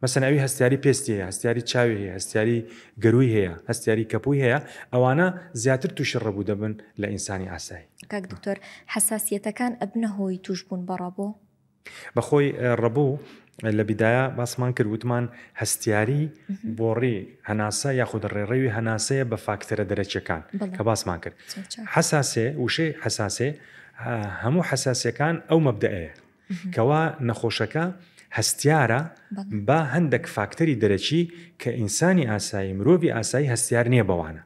مەسەن ئەوی هەستیاری پێستی هەیە، هەستیاری چاوی هەیە، هەستیاری گەرووی هەیە، هەستیاری کەپووی هەیە، ئەوانە زیاتر تووشی ڕەبوو دەبن لە ئینسانی ئاسایی. کاک دکتۆر حەساسیەتەکان ئەبنە هۆی تووشبوون بە ڕەبوو؟ بە خۆی ڕەبوو لە بیدایا باسمان کرد وتمان هەستیاری بۆڕی هەناسە یاخود ڕێڕەوی هەناسەیە بە فاکتەرە دەرەکیەکان کە باسمان کرد حەساسێ وشەی حەساسێ هەموو حەساسەکان ئەو مەبدەئەیە کەوا نەخۆشەکە هەستیارە با هەندەک فاکتەری دەرەکی کە ئینسانی ئاسایی مرۆڤی ئاسایی هەستیار نییە بەوانە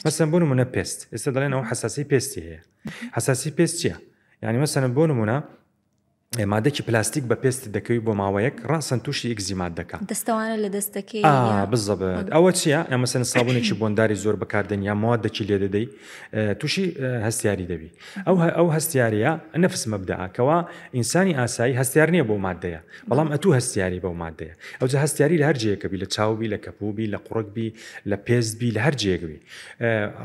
مەسەن بۆ نمونە پێست ئێستا دەڵێن ئەو حساسی پێستی هەیە حساسی پێست چییە؟ یعنی مەسەن بۆ نمونە مادەکی پلاستیک بە پێست دەکەوی بۆ ماوەیەک ڕاستن تووشی ئگزیمات دەکە دەستەوانە لە دەستەکەی بزەبێت ئەوە چیە ئەمەسن سابونێکی بۆنداری زۆر بەکاردێن یا موادەکی لێ دەدەی تووشی هەستیاری دەبی ئەو ئەو هەستیارە نەفس مەبدا کەوا ئینسانی ئاسایی هەستیار نییە بۆ مادەیە بەڵام ئەتو هەستیاری بەو مادەیە ئەو جە هەستیاری لە هەر جێکەبی لە چاوبی لە کەپوبی لە قوڕکبی لە پێستبی لە هەر جێگوی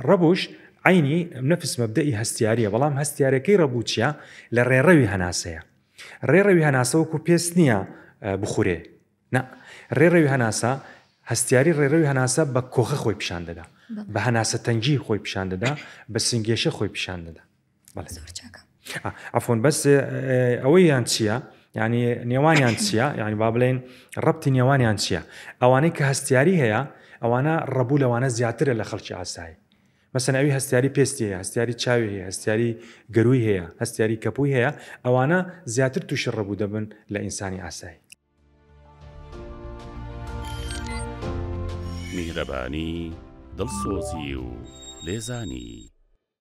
ڕەبوش عینی نەفس مەبدەی هەستیاریە بەڵام هەستیارەکەی ڕەبووچە لە ڕێڕەوی هەناسەیە ڕێڕەوی هەناسەوەکو پێست نییە بخورێ نا، ڕێڕەوی هەناسە، هەستیاری ڕێڕەوی هەناسە بە کۆخە خۆی پیشان دەدا، بە هەناسەتەنگی خۆی پیشان دەدا، بە سنگێشە خۆی پیشان دەدا. زۆر چاکە. عەفوەن بەس ئەوەیان چییە؟ یعنی نێوانیان چییە؟ یعنی با بڵێن ڕەبتی نێوانیان چییە؟ ئەوانەی کە هەستیاری هەیە ئەوانە ڕەبوو لەوانە زیاترە لە خەڵکی ئاسایی. مەسەن ئەوی هەستیاری پێستی هەیە، هەستیاری چاوی هەیە، هەستیاری گەرووی هەیە، هەستیاری کەپووی هەیە، ئەوانە زیاتر تووشی ڕەبوو دەبن لە ئینسانی ئاسایی. میهرەبانی، دڵسۆزی و لێزانی.